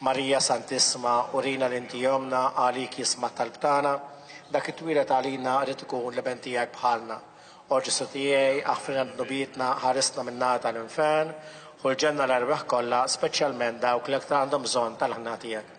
Marija Santissma, urina li inti ommna, għalik jisma' t-talb tagħna, dak itwieled għalina irid ikun l-iben tiegħek bħalna. O Ġesù tiegħi, aħfrilna dnubietna, ħarisna min-nar tal-infern, ħu l-ġenna l-erwieħ kollha, speċjalment dawk li l-aktar għandhom bżonn tal-ħniena tiegħek.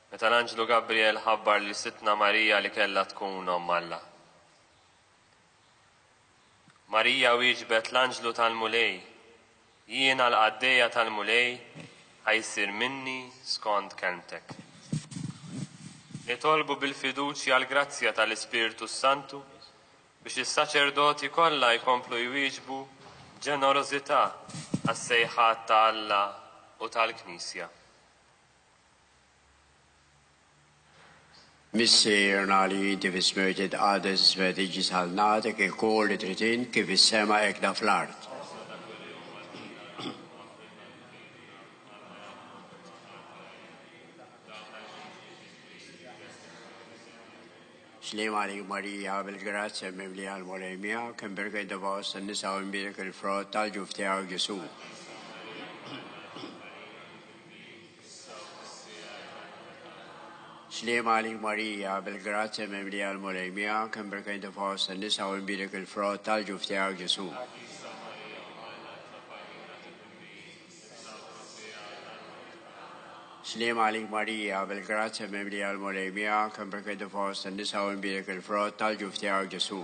Meta l-anġlu Gabrijel ħabbar lil Sidtna Marija li kellha tkun Omm Alla. Marija wieġbet l-anġlu tal-Mulej, Jiena l-qaddejja tal-Mulej, ħa jsir minni skond kelmtek. Nitolbu bil-fiduċja l-grazzja tal-Ispirtu s-Santu biex is-saċerdoti kollha jkomplu jwieġbu b'ġenerożità għas-sejħat ta' Alla u tal-Knisja. Missier nali divis myrtit għades svediġis għal natek e kol li trid int kif is-sema hekk da fl-art. Slim għalik Marija bil-grazzja mimli għal Mulej miegħek, imbirket divaw tan-nisa u imbirek il-frott tal-ġuf tiegħek Ġesu. Sliema għalik Marija, bil-grazzja mimlija l-Mulej miegħek, imbrika inti fost in-nisa u inbierek il-frott tal-ġuf tiegħek Ġesù. Sliema għalik Marija, bil-grazzja mimlija l-Mulej miegħek, imbrek inti fost in-nisa u mbierek il-frott tal-ġuf tiegħek Ġesù.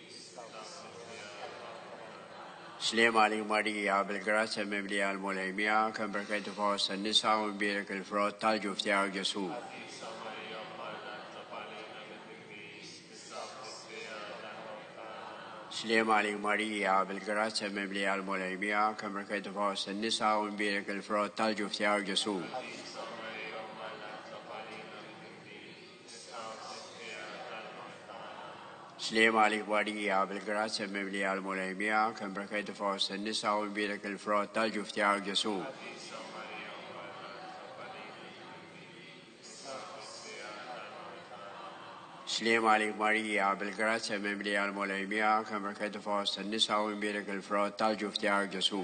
Sliem għalik Marija, bil-grazzja mimlija l-Mulej miegħek, imbarka inti fost in-nisa u mbierek il-frott tal-ġuf tiegħek Ġesù. Sliem għalik Marija, bil-grazzja mimlija l-Mulej miegħek, imbarka inti fost in-nisa u mbierek il-frott tal-ġuf tiegħek Ġesù. Sliem Slima għalik barija bil-grazzja mimli għal mulej miegħek, imbrekajtu fost in-nisa u imbierek il-frott tal-ġuf tiegħek Ġesu. Slima għalik Marija bil-grazzja mimli għal mulej miegħek, imbrekajtu fost in-nisa u imbierek il-frott tal-ġuf tiegħek Ġesu.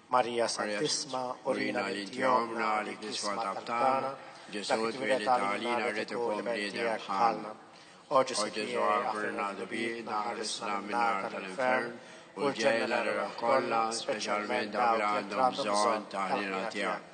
Marija Santissma, urina li inti omna li kiswa tabtana, Ġesu twiled għalina rrid ikun bniedem bħalna. O Ġesu Ġesu għafirna dubitna ħarisna min-nar tal-infern u l-ġejla l-erħ kollha, speċjalment dawk li għandhom bżonn ta' ħniena tiegħek.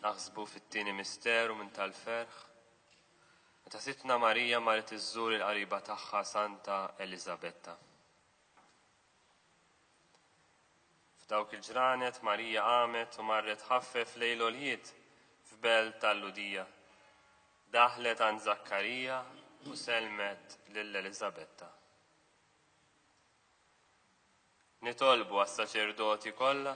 Naħsbu fit-tieni misteru minn tal-ferħ, meta Sidtna Marija marret iżżur il-qariba tagħha Santa Eliżabetta. F'dawk il-ġranet Marija qamet u marret ħaffef lejn l-oljiet f'belt tal-Ludija. Daħlet għand Zakkarija u selmet lil Eliżabetta. Nitolbu għas-saċerdoti kollha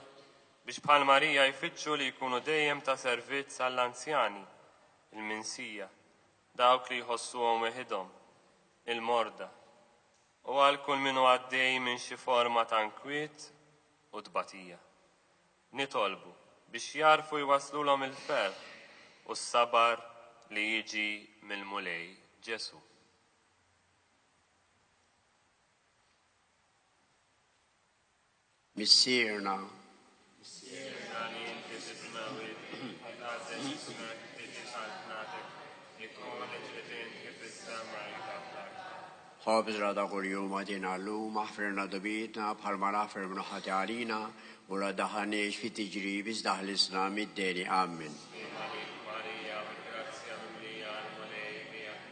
biex bħal Marija jfittxu li jkunu dejjem ta' servizz għall-anzjani, il-minsija, dawk li jħossuhom weħidhom, il-morda, u għal kull min hu għaddej minn xi forma ta' nkwiet u tbatija. Nitolbu biex jagħrfu jwasslulhom il-ferħ u s-sabar li jiġi mill-Mulej Ġesù. Missierna. Missierna li inti titmewwid, ħażet ismek tiġi saltnatek, li konet li tinħi fis-sema jtaħlak. Ħobżna ta' kuljum agħtina llum, aħfirna dnubietna bħalma naħfir min hu ħati għalina, u la ddaħħalniex fi tiġrib iżda ħlisna mid-deni. Ammen. Sliema lil Marija, bil-grazzja mimlija, l-Mulej miegħek,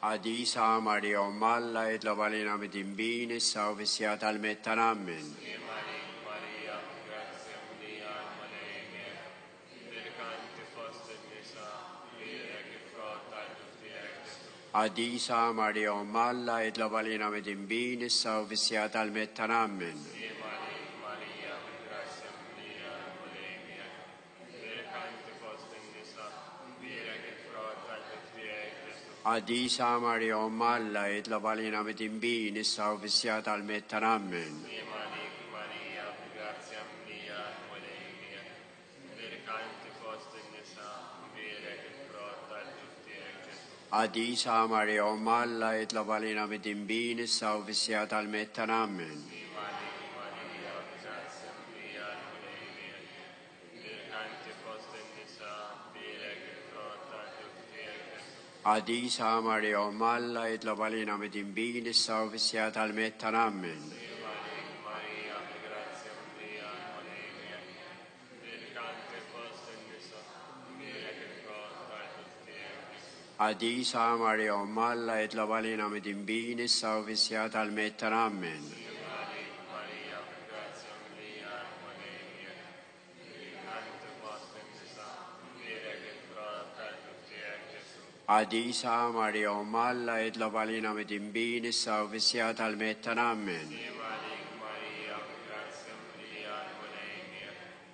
Qadisa Marija Omm Alla, itlob għalina midinbin, issa u fis-siegħa tal-miet tagħna. Ammen. Qadisa Marija Omm Alla, itlob għalina midinbin, issa u fis-siegħa tal-miet tagħna. Ammen. Qaddisa Marija Omm Alla, jitlob għalina midinbin issa u fis-siegħa tal-miet tagħna. Ammen. Qaddisa Marija Omm Alla, jitlob għalina midinbin issa u fis-siegħa tal-miet tagħna. Ammen. Qaddisa Marija Omm Alla, jitlob għalina midinbin issa u fis-sija tal-miet ta' nammen. Qaddisa Marija Omm Alla itlob għalina midinbin issa u fis-siegħa tal-mewtna. Ammen. Qaddisa Marija Omm Alla itlob għalina midinbin issa u fis-siegħa tal-mewtna. Ammen.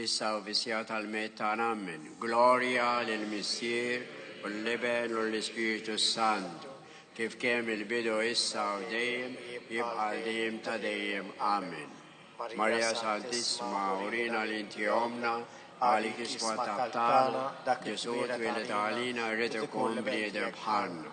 Issa u fis-siegħa tal-mewt tagħna. Ammen. Glorja lill-Missier u l-Iben u l-Ispirtu s-Sant, kif kien mill-bidu issa u dejjem jibqa' għal dejjem ta' dejjem. Ammen. Marija Santissima, urina li inti ommna, għalik iswa t-tabtana, Ġesù twieled għalina jrid ikun bniedem bħalna.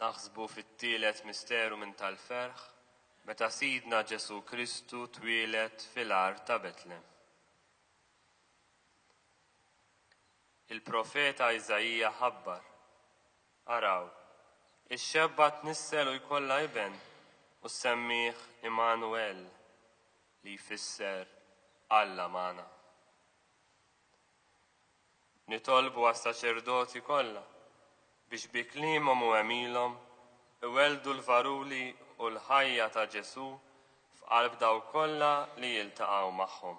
naħsbu fit-tielet misteru minn tal-ferħ meta Sidna Ġesu Kristu twieled fil-ar ta' Betlem. Il-profeta Iżajija ħabbar Araw, ix-xebba tnissel u jkollha iben, u ssemmih Immanuwel, li jfisser Alla magħna. Nitolbu għas-saċerdoti kollha biex bi kliemhom u għemilhom iwelldu l-varuli u l-ħajja ta' Ġesù f'qalb dawk kollha li jiltaqgħu magħhom.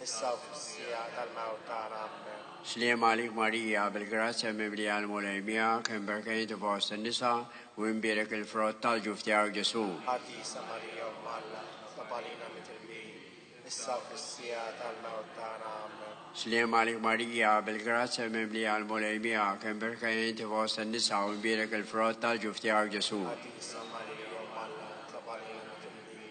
issa u fis-siegħa tal-mewt tagħna. Ammen. Sliem għalik Marija, bil-grazzja mimlija l-Mulej miegħek, imberka inti fost in-nisa, u imbierek il-frott tal-ġuf tiegħek Ġesù. Qaddisa Marija Omm Alla, tob għalina mitrbin, issa u fis-siegħa tal-mewt tagħna. Ammen. Sliem għalik Marija, bil-grazzja mimlija l-Mulej miegħek, imberka inti fost in-nisa, u imbierek il-frott tal-ġuf tiegħek Ġesù. Qaddisa Marija Omm Alla, tob għalina mitrbin,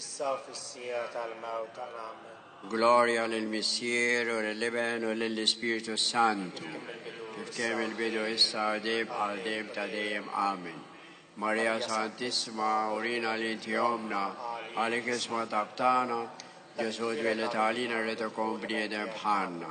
Issa u fis-siegħa tal-mewt ta' nagħmel. Glorja lill-Missier u lill-Iben u lill-Ispirtu s-Sant. Kif kien mill-bidu, issa u dejjem bħal dejjem ta' dejjem. Amen. Marija Santissima, urina li inti ommna, għalik isma' tabtana, Ġesù twieled għalina rrid ikun bniedem bħalna.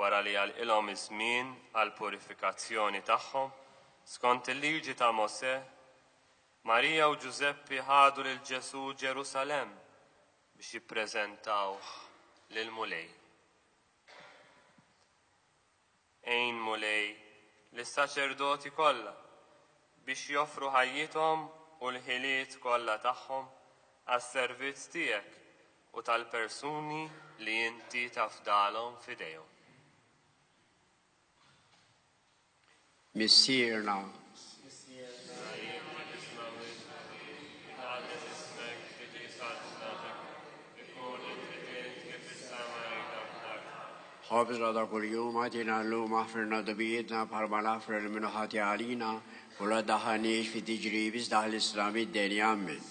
wara li għalqilhom iż-żmien għall-purifikazzjoni tagħhom, skont il-Liġi ta' Mosè, Marija u Ġużeppi ħadu lil Ġesù Ġerusalemm biex jippreżentawh lill-Mulej. Għin, Mulej, lis-saċerdoti kollha biex joffru ħajjithom u l-ħiliet kollha tagħhom għas-servizz tiegħek u tal-persuni li inti tafdalhom f'idejhom. Missierna. Ħobżna ta' kuljum għatina llum aħfirna dubijietna bħalma naħfru li minnu ħati għalina u la daħħalniex fi tiġrib iżda ħlisna mid-denja minn.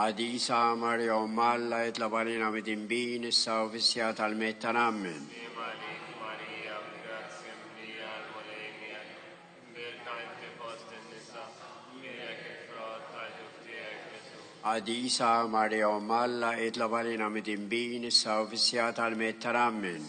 Qadisa Marija Omm Alla itlob għalina midinbin issa u fis-siegħa tal-mewt tagħna. Ammen. Qadisa Marija Omm Alla itlob għalina midinbin issa u fis-siegħa tal-mewt tagħna. Ammen.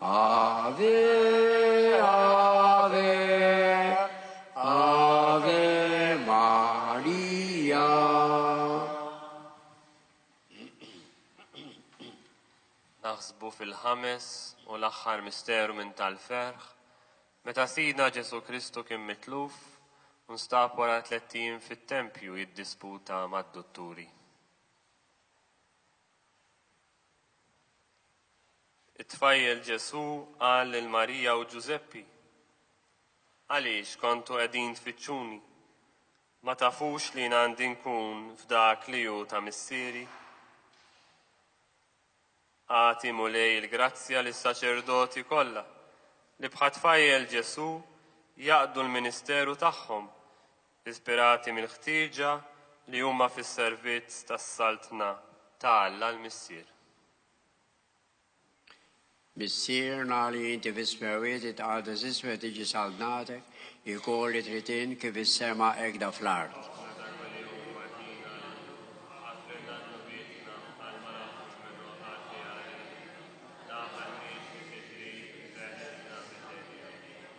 Ave, ave, ave Maria. Naħsbu fil-ħames u l-aħħar misteru minn tal-ferħ, meta Sidna Ġesu Kristu kien mitluf u nstab wara tliet ijiem fit-tempju jiddisputa mad-dutturi. It-tfajjel Ġesù qal lil Marija u Ġużeppi, Għaliex kontu qegħdin tfittxuni? Ma tafux li jien għandi nkun f'dak li hu ta' Missieri? Agħti, Mulej, il-grazzja lis-saċerdoti kollha li bħat-tfajjel Ġesù jaqdu l-ministeru tagħhom ispirati mill-ħtieġa li huma fis-servizz tas-Saltna ta' Alla l-Missier. Missierna li inti fis-smewwiet jitqaddes ismek tiġi saltnatek, ikun li trid int kif is-sema hekk da fl-art.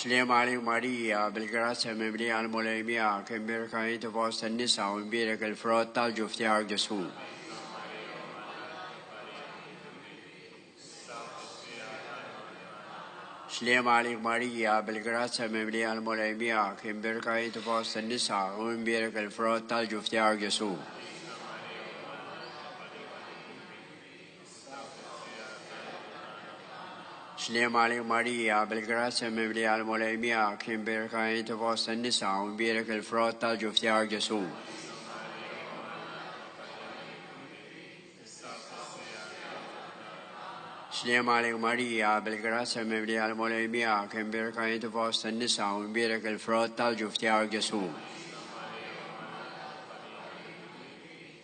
Slim għalik Marija, bil-grazzja mimlija l-Mulej miegħek, imbierka inti fost in-nisa u imbierek il-frott tal-ġuf tiegħek Ġesù. Slim għalik Marija, bil-grazzja mimlija l-Mulej miegħek, imbierka inti fost in-nisa u imbierek il-frott tal-ġuf tiegħek Ġesù. Slima li Marija, bil-grazzja mimlija l-Mulej miegħek, imbierka inti fost in-nisa u mbierek il-frott tal-ġuf tiegħek Ġesù. Slima li Marija, bil-grazzja mimlija l-Mulej miegħek, imbierka inti fost in-nisa u mbierek il-frott tal-ġuf tiegħek Ġesù.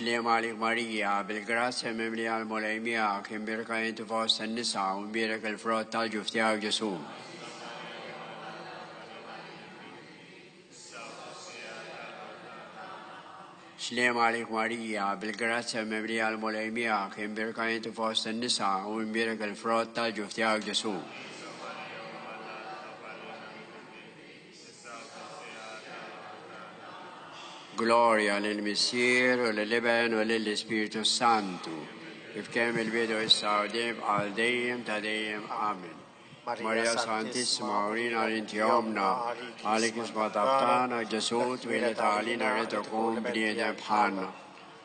Sliema għalik Marija, bil-grazzja mimlija l-Mulej miegħek, imbierka inti fost in-nisa u mbierek il-frott tal-ġuf tiegħek Ġesù. Sliema għalik Marija, bil-grazzja mimlija l-Mulej miegħek, imbierka inti fost in-nisa u imbierek il-frott tal-ġuf tiegħek Ġesù. Glorja lil Missier u lil Iben u lil Ispirtu Santu, kif kemm il-bidu issa u dejjem għal dejjem ta' dejjem. Amen. Marija Santissima, urina l-inti omna, għalik isma tabtana, Ġesu twielet għalina rritu kun bniedem bħalna.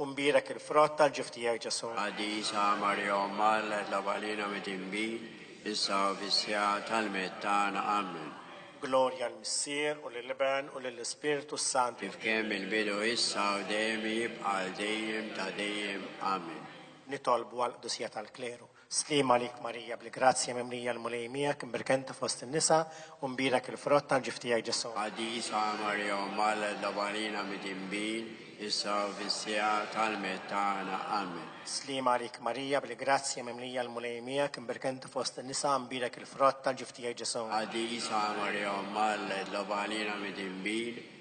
U mbierek il-frott tal-ġuf tiegħek, Ġesù. Qaddisa Marija Omm Alla, itlab għalina midinbin, issa u fis-siegħa tal-miet tagħna. Ammen. Glorja l-Missier, u lill-Iben, u lill-Ispirtu s-Santu. Kif kien mill-bidu, issa u dejjem, jibqa' għal dejjem ta' dejjem. Ammen. Nitolbu għall-qdusija tal-kleru. Sliem għalik Marija bil-grazzja mimlija l-Mulej miegħek, imberka inti fost in-nisa, u mbierak il-frott tal-ġuf tiegħek Ġesù. Qaddisa Marija Omm Alla tlob għalina midinbin, issa u fis-siegħa tal-mewt tagħna. Amen. Sliem għalik Marija bil-grazzja mimlija l-Mulej miegħek, imberka inti fost in-nisa, mbierak il-frott tal-ġuf tiegħek Ġesù. Qaddisa Marija Omm Alla tlob għalina midinbin,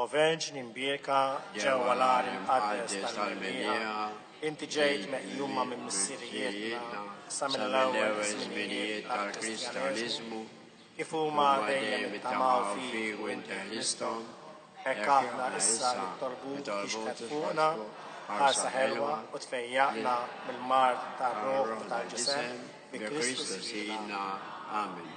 O Verġni mbieka ġewwa l-għar imqaddes tal-Minbieħa, inti ġejt meqjuma minn missirijietna sa mill-ewwel żminijiet tal-Kristjaniżmu, kif huma dejjem ittamaw fik u inti ħristhom, hekk aħna issa nitolbuk tixhed fuqna b'ħarsa ħelwa u tfejjaqna mill-mard tar-ruħ u tal-ġisem bi Kristu Sidna. Amen.